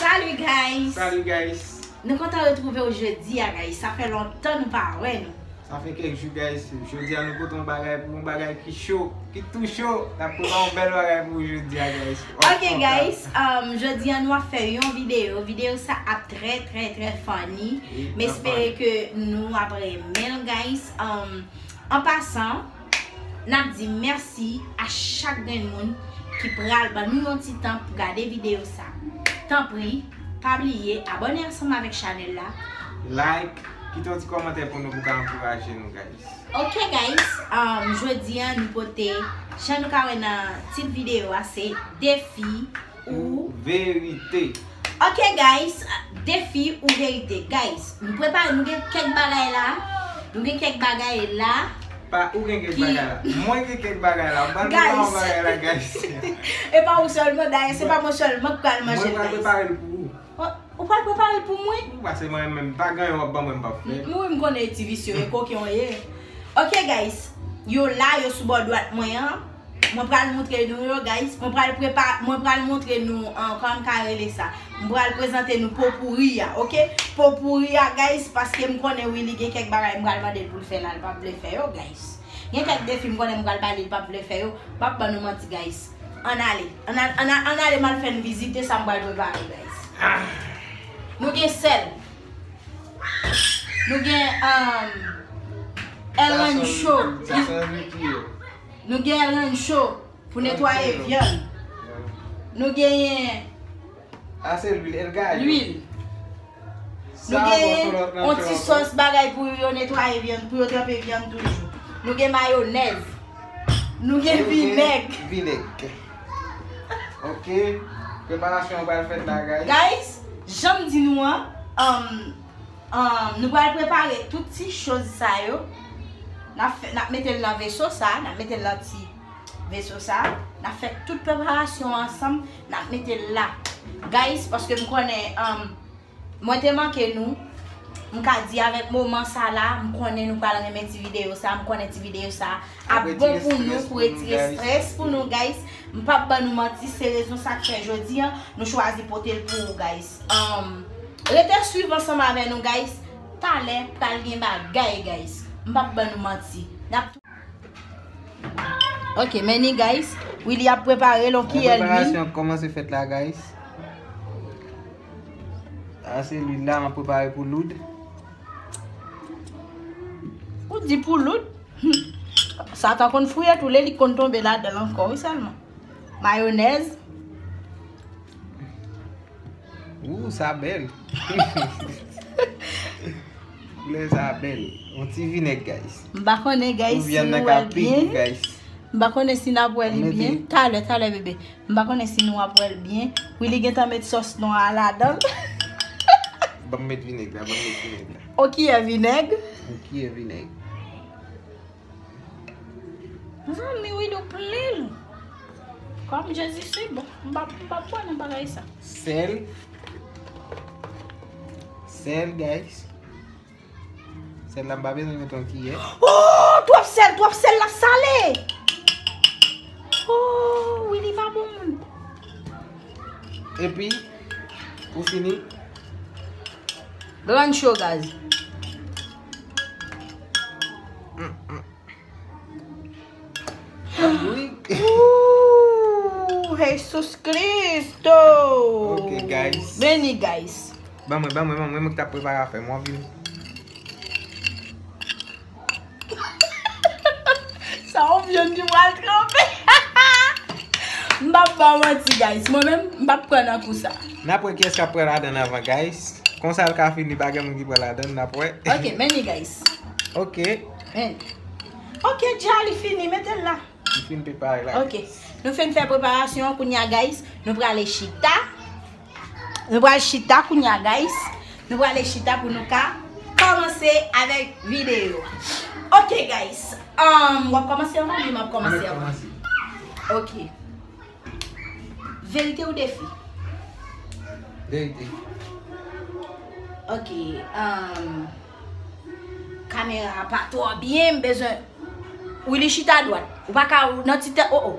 Salut guys! Salut guys! Nou kontan retrouve ou jodi a guys, sa fè lontan nou pa wè nou. Sa fè kèk jou guys, jodi a nou pote yon bagay pou yon bagay ki cho, ki tou cho, na pote yon bèl bagay pou ou jodi a guys. Ok guys, um, jodi a nou ap fè yon video, video sa ap trè trè trè funny, m espere ke nou ap remen guys. Um, en passant, Nap di mèsi a chak grenn moun ki pral ban nou yon ti tan pou gade videyo sa. Tanpri, pa bliye abòne ansanm avèk chanèl la. Like, kite yon ti kòmantè pou nou pou ka ankouraje nou guys. Ok guys, jodi an nou pote jan nou ka wè nan tit videyo a se defi. ou verite. Ok guys defi ou verite. Guys nou prepare nou gen kek bagay la. Nou gen kek bagay la. Pa ou gen kek bagay la. Mwen gen kek bagay la. Mwen gen kek bagay la guys. E pa ou selman dayè se pa mwen selman ki pral manje la. Mwen pral prepare l pou ou. Ou pral prepare l pou mwen? Ou pase mwen menm pa gen yon wap ban mwen m pap fè. Ou menm konnen e ti visye e koken w ye. Ok guys yo la yo sou bò dwat mwen an. Mwen pral moutre nou yo guys. Mwen pral prepa mwen pral moutre nou an kòm ka rele sa. M pral prezante nou po pouri a ok. Po pouri a guys paske m konnen wi li gen kèk bagay m pral mande l pou l fè la l pap vle fè yo guys. Gen kèk defi m konnen m pral ba li l pap vle fè yo. M pap ban nou manti guys. Ann ale. Ann al ann al ann ale m al fè n vizite sa m pral prepare guys. Nou gen sèl. Nou gen um Sa son sa son Ricky yo. Nou gen rann cho pou netwaye vyann. Nou genyen. Ase lwil, el gayo. Lwil. Nou genyen yon ti sòs bagay pou yo netwaye vyann, pou yo tranpe vyann toujou. Nou gen mayonèz. Nou gen vinèg. Vinèg. Ok. Preparasyon an pral fèt la, guys. Guys, janm di nou an, Nou pral prepare tout ti choz sa yo. Nap mete l nan veso sa. Nap mete l nan ti veso sa. Nap fè tout preparasyon ansanm. Nap mete l la. Guys, paske m konnen mwen te manke nou. M ka di avèk moman sa la, m konnen nou pral renmen ti videyo sa. M konnen ti videyo sa ap bon pou nou pou retire stress pou nou guys m pap ban nou manti se rezon sak fè jodi an nou chwazi potel pou ou guys humm rete swiv ansanm avè nou guys talè pral gen bagay guys m pap ban nou manti nap tou ok men ni guys Willy ap prepare l on kiyè lwil preparasyon ap komanse fèt la guys a se lwil la map prepare pou loud ou di pou loud Humm satan konn fouye tou le li konn tonbe ladanl ankò wi selman mayonèz. Ooh sa bel. Koulè sa bel. Yon ti vinèg guys. M pa konnen guys si nou wèl byen. M pa konnen si nap wèl li byen. Talè talè bebe. M pa konnen si nou ap wèl byen. Willy gentan met sòs nwa a ladanl. Banm met vinèg la banm met vinèg la. On kiyè vinèg. On kiyè vinèg. Zanmi wid ou plenl. Kom jezi si bon. M pa m pa pwa nan bagay sa. Sel. Sel guys. Sel la m pa bezwen met on kiyè. Oh twop sel twop sel la sale. Oh wid li pa bon moun. Epi pou fini. Ranch yo gaz. Ooh Jesus Christo. Ok guys. Beni guys. Ban mwen ban mwen ban mwen mwen ki ta prepare afem wan vini. Sa yon vyann ki pral tranpe. M pa p ba w manti guys. Mwen menm m pa p pran nan kou sa. N ap wè kiyès k ap pran ladann anvan guys. Konsa l ka fini pa gen moun ki pran ladann. N ap wè. Ok men li guys. Ok. Men. Ok dja li fini mete l la. Li fin prepare la guys. Ok. Nou fin fè preparasyon an kounya guys. Nou prale chita. Nou pral chita kounya guys. Nou prale chita pou nou ka komanse avek video. Ok guys. Amm wap komanse anvan oubyen map komanse anvan? Mwen komanse. Ok. Verite ou defi? Verite. Ok. Amm. Kamera a pa twò byen m bezwen Willy chita adwat ou pa ka ou nan ti tèt oh oh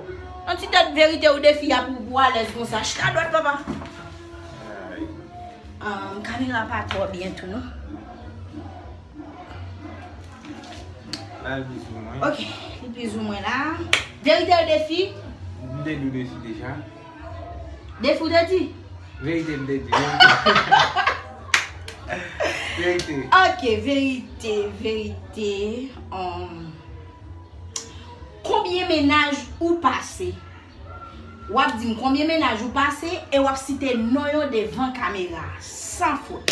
nan ti tèt verite ou defi a pou ou alèz konsa chita adwat papa Aayy Kamera a pa twò byen tou non Al pizoumwen Ok li pizoumwen la Verite ou defi M te di w defi deja Defi w te di? Verite m te di. Verite. Ok, verite, verite. Konbyen menaj ou pase? W ap di m konbyen menaj ou pase e w ap site non yo devan kamera. San fot.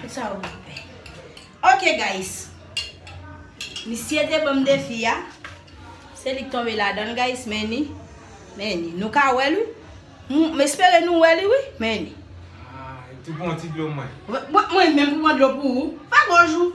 Tout sa ou nan pen. Ok guys. Misye te banm defi a. Se li k tonbe ladann guys. Men ni. Men ni. Nou ka wè li. M espere nou wè li wi. Men ni. Tou pon ti dlo mwen. Mwen menm pou pon dlo pou ou. Fè gòj ou.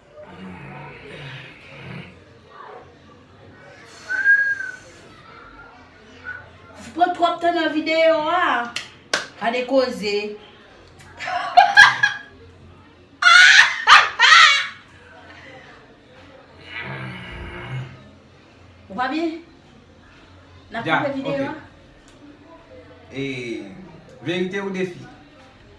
Pran trop tan nan video a. Kade koze. Ou pa byen? Nan koupe video a? Verite ou defi?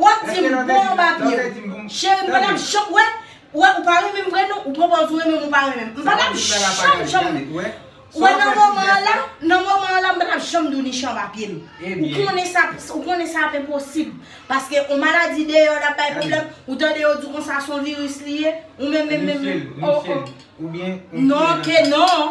Wap dim bon babie wi. Cheri m pata janm wè Ou wè ou pa renmen m vre non ou pran pòz ou renmen m ou pa renmen m. M pata janm janm Ou wè nan moman an la nan moman an la m pata janm di w Nichan pa pye m. Ou konnen sa ou konnen sa ap enposib. Paske on maladi deyò lap bay pwoblèm ou tande yo di konsa son viris li ye ou menm menm menm menm oh oh. Non ke non.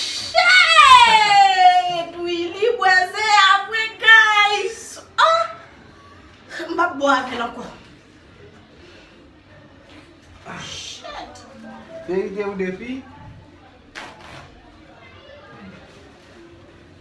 Shit ui li bwè ze a vre guys ohh m pap bwè avèl ankò shit. Verite ou defi?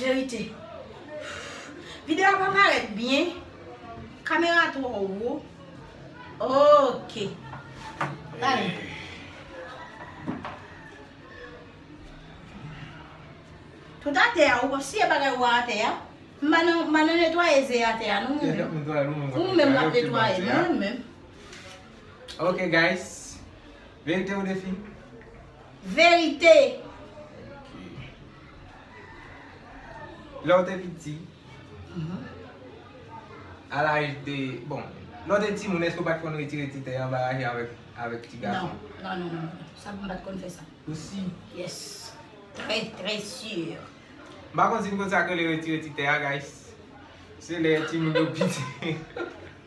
Verite. Video a pa paret byen. Kamera tro wo. Ok. Gade. Tout a te a ou pa siye bagay ou a te a. Manan netwaye ze a te a nou mwen mwen. Ou mwen mwen mwen netwaye mwen mwen. Ok guys. Verite ou defi. Verite! Lè w te piti, a laj de, bon, lè w te timoun èske w pa t konn retire ti tè anba raje avèk ti gason? Non, non, non, sa m pa t konn fè sa. Ou si? Yes, trè trè sur. M pa konn si n konn sa k rele retire ti tè a guys. Se lè timoun yo piti.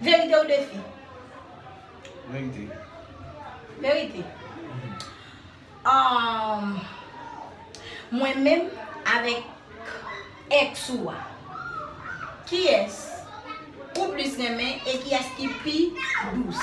Verite ou defi? Verite. Verite. Mwen menm avèk ex ou a, ki es ou plis renmen e ki es ki pi dous?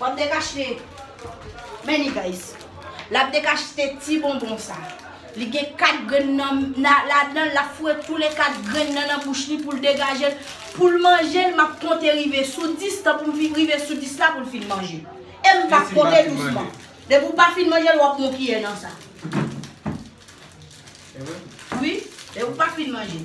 Wap dek achte Many guys Lap dek achte ti bonbon sa Li gen 4 grenn nan ladan Lap foure tou le 4 grenn nan nan bouch li poul degajel Poul manjel map konte rive sou 10 Tan poum fin rive sou 10 la poul fin manje Em pap konte dousman Depi ou pa fin manjel wap pran yon kiyè nan sa Wi Depi ou pa fin manjel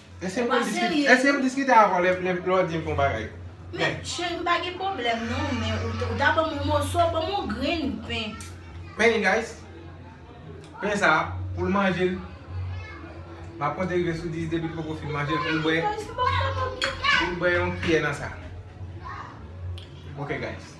Eske mwen diskite eske m diskite avè w lè lè w di m fè yon bagay? Men cheri m pa gen pwoblèm non men ou ou ta ban m yon moso ban m yon grenn pen. Men yon guys pen sa pou l manje l m ap konte rive sou 10 depi l poko fin manje l pou l bwè pou l bwè yon kiyè nan sa ok guys.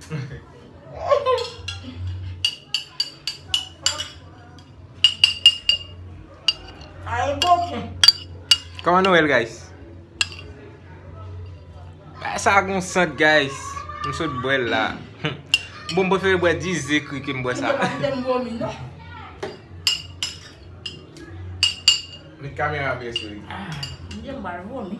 Koman nou el guys? Sa a gon sant guys M sot bwe l la Bon m prefere bwe 10 ze kri ke m bwe sa Met kamera byen sou li M gen mal vwomi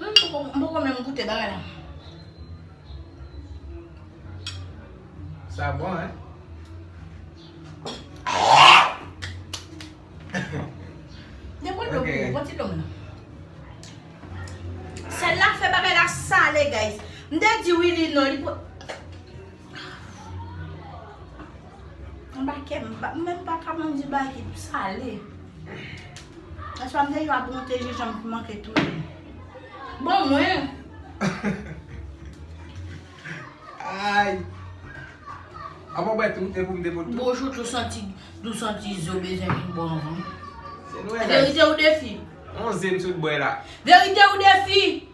M poko menm goute bagay la. Sa bon hein. Mwen bwè dlo pou ou, bwè ti dlo m. Sèl la fè bagay la sale guys. M te di wi li non li pou. Anba kèm, m menm pa ka manje bagay ki sale. Aswè m te jwe ak monte jenjan m manke tou. Bon mwen! Ayy! A mwen bwè tou, e pou m te bwè tou. Bon chouchou santi, dou santi zo bezwen vin bon anvan. Se nou e lè. Verite ou defi? On ze m sot bwè la. Verite ou defi?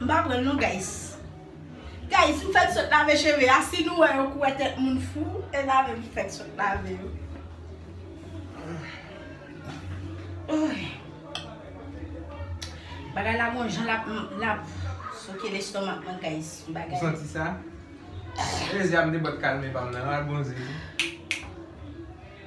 M pa pranl non guys Guys m fèk sot lave cheve a si nou wè yo kouwè tèt moun fou e lave m fèk sot lave yo Bagay la gon jan lap souke lestomak mwen guys Ou santi sa? Elezia m te bat kalme pa m nan al bon zin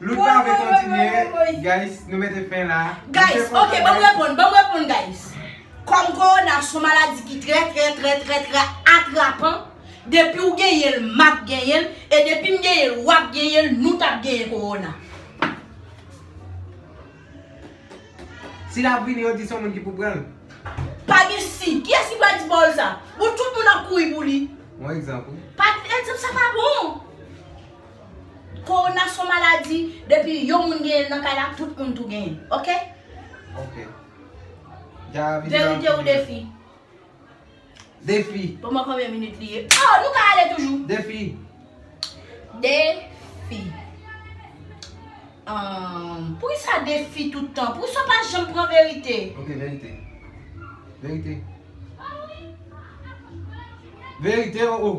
Lout pa vle kontinye guys nou mete fen la. Guys ok banm reponn banm reponn guys Kom korona son maladi ki trè trè trè trè trè atrapan depiw genyenl map genyenl e depim genyenl wap genyenl nou tap genyen korona. Si lap vini yo di son moun ki pou pranl. Pa gen si. Kiyès ki pral di pawòl sa? Bon tout moun ap kouri pou li. Bon egzanp wi. Pat egzanp sa pa bon. Korona son maladi depi yon moun genyenl nan kay la tout moun tou genyen ok. Ok. Verite ou defi? Defi. Bon mwen konbyen minit li ye. Oh nou ka ale toujou. Defi. Defi. Ahh poukisa defi tout tan? Poukisa ou pa janm pran verite? Ok verite. Verite. Verite oh oh.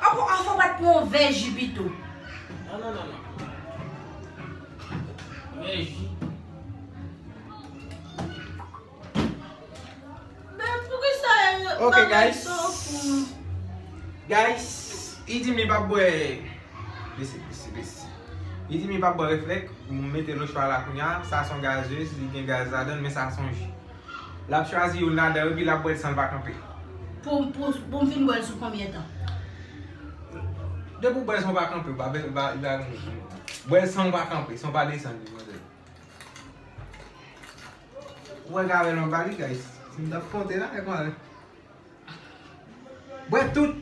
An bon an fon bat mon vè ji pito. Non non non non. Vè ji. Ben poukisa Ok guys. Guys li dim li pap bwè Mesi mesi mesi. Li dim li pap bwè reflek, mete lo chwa la kounya, sa son gazeuse li gen gaz ladann men sa son ji. Lap chwazi youn ladan yo epi lap bwèl sanl pa kanpe. Poum fin bwèl sou konbyen tan? Depi ou bwèl sanw pa kanpe ou pa bezwen bwèl sanw pa kanpe sanw pa desann li manzè. Ou wè gavel anba li guys. Sim tap konte la e konl. Bwè tout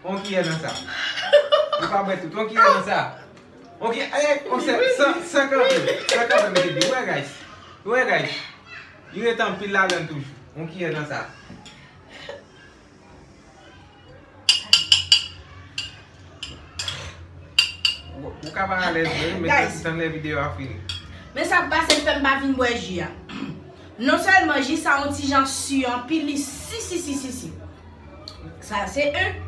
On kiyè nan sa Ou pa bwè tout On kiyè nan sa On kiyè Ayayy On sè San San kanpe San kanpe mete dlo Ou wè guys Ou wè guys Li ret anpil ladann toujou On kiyè nan sa. Ou ka pa alèz vre, men se tan lè videyo a fini. Men sa k pase l fè m pa vin bwè ji a. Non sèlman ji sa on ti jan su anpil, li si si si si si. Sa se 1.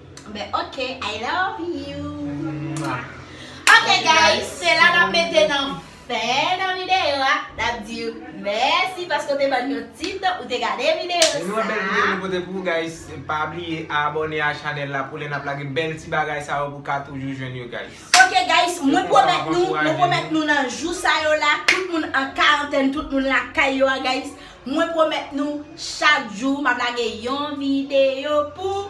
Ben ok I love you Ok guys se la nap mete nan fen nan video a nap diw mèsi paske ou te bann yon ti tan ou te gade video sa. Nou gen bèl video nou pote pou ou guys pa bliye abone a chanèl la pou lè nap lage bèl ti bagay sa yo pou ka toujou jwenn yo guys. Ok guys mwen pwomèt nou mwen pwomèt nou nan jou sa yo la tout moun an karantèn tout moun lakay yo a guys mwen pwomèt nou chak jou map lage yon video pou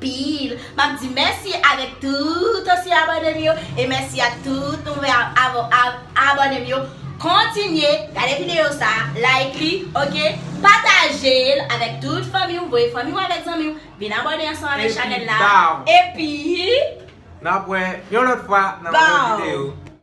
pil map di mèsi avèk tout ansyen abònem yo e mèsi ak tout nouve abònem yo kontinye gade video sa like li ok patajel avèk tout fanmiw voye fanmiw avèk zanmiw vin abòne ansanm avèk chanèl la epi nap wè yon lòt fwa nan yon lòt video.